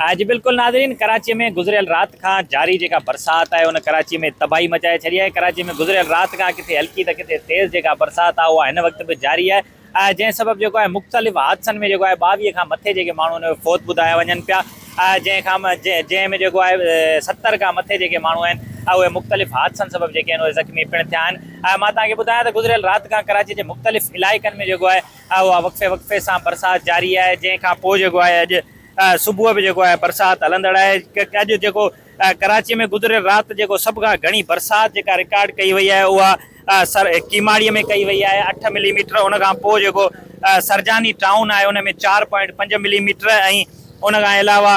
آهي جي بلڪل ناظرين ڪراچي ۾ گذريل رات کان جاري جيڪا برسات آهي ان ڪراچي ۾ تباهي مچائي ڇڏي آهي ڪراچي ۾ گذريل رات کان ڪٿي هلڪي ته ڪٿي تيز جيڪا برسات آهي اها هن وقت به جاري آهي جنهن سبب جيڪو آهي مختلف حادثن ۾ جيڪو آهي ٻاويهه کان مٿي جيڪي ماڻهو آهن اهي فوت ٻڌايا وڃن پيا جنهن کان جنهن ۾ جيڪو آهي ستر کان مٿي جيڪي ماڻهو آهن اهي مختلف حادثن سبب جيڪي آهن اهي زخمي پڻ ٿيا آهن مان توهان کي ٻڌايان ته گذريل رات کان ڪراچي جي مختلف علائقن ۾ جيڪو آهي اها وقفي وقفي سان برسات جاري آهي جنهن کان پوء جيڪو آهي اڄ صبح به جيڪو آهي برسات هلندڙ آهي اڄ جيڪو ڪراچي ۾ گذريل رات جيڪو سڀ کان گهڻي برسات جيڪا رڪارڊ ڪئي وئي آهي اها سر ڪيماڙي ۾ ڪئي وئي آهي اٺ ملي ميٽر ان کان پوء جيڪو سرجاني ٽائون آهي ان ۾ چار پوائنٽ پنج ملي ميٽر ۽ ان کان علاوه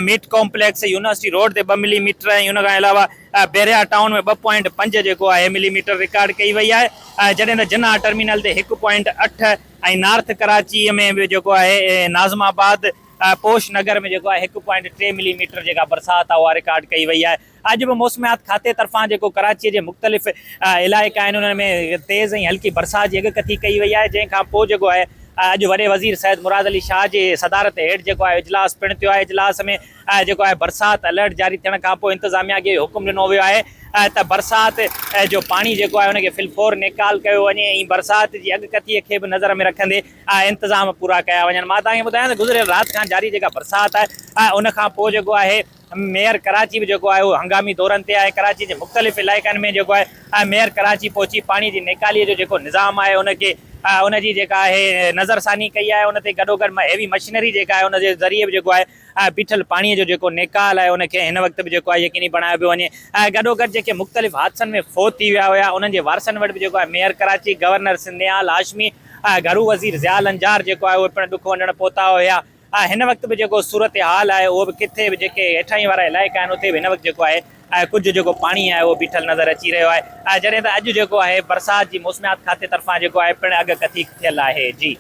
ميٽ ڪامپليڪس يونيورسٽي روڊ تي ٻه ملي ميٽر ۽ ان کان علاوه بحريا ٽائون ۾ ٻه پوائنٽ پنج جيڪو آهي ملي ميٽر رڪارڊ ڪئي وئي آهي جڏهن ته جناح ٽرمينل تي هڪ پوائنٽ اٺ ۽ نارٿ ڪراچيء ۾ به جيڪو آهي ناظم آباد پوش نگر ۾ جيڪو آهي هڪ پوائنٽ ٽي ملي ميٽر جيڪا برسات آهي اها رڪارڊ ڪئي وئي آهي اڄ به موسميات کاتي طرفان جيڪو ڪراچيء جي مختلف علائقا آهن انهن ۾ تيز ۽ هلڪي برسات جي اڳڪٿي ڪئي وئي آهي جنهن کان پوء جيڪو آهي اڄ وڏي وزير سيد مراد علي شاهه جي صدارت هيٺ جيڪو آهي اجلاس پڻ ٿيو آهي اجلاس ۾ آهي جيڪو آهي برسات الرٽ جاري ٿيڻ کانپوء انتظاميا کي اهو حڪم ڏنو ويو آهي ته برسات جو پاڻي جيڪو آهي ان کي في الفور نيڪال ڪيو وڃي ۽ برسات جي اڳڪٿي کي به نظر ۾ رکندي انتظام پورا ڪيا وڃن مان توهان کي ٻڌايان ته گذريل رات کان جاري جيڪا برسات آهي ان کانپوء جيڪو آهي ميئر ڪراچي به جيڪو آهي اهو هنگامي دورن تي آهي ڪراچي جي مختلف علائقن ۾ جيڪو آهي ميئر ڪراچي پهچي پاڻي جي نيڪالي جو جيڪو نظام آهي ان کي ان جي جيڪا آهي نظرثاني ڪئي آهي ان تي گڏوگڏ هيوي مشينري جيڪا آهي ان جي ذريعي به جيڪو آهي ۽ بيٺل پاڻيء جو جيڪو نيڪال آهي ان کي هن وقت به جيڪو آهي يقيني بڻايو پيو وڃي ۽ گڏوگڏ جيڪي مختلف حادثن ۾ فوت ٿي ويا هيا انهن جي وارثن وٽ به جيڪو آهي ميئر ڪراچي گورنر سنڌ نهال هاشمي ۽ گهرو وزير ضياء لنجار جيڪو آهي اهي پڻ ڏک ونڊڻ پهتا هيا ۽ هن وقت به جيڪو صورتحال آهي اهو به ڪٿي به جيڪي هيٺاهين وارا علائقا آهن اتي به هن وقت جيڪو آهي ڪجهه جيڪو پاڻي آهي اهو بيٺل نظر اچي رهيو آهي جڏهن ته اڄ جيڪو آهي برسات جي موسميات کاتي طرفان جيڪو آهي پڻ اڳڪٿي ٿيل آهي جي.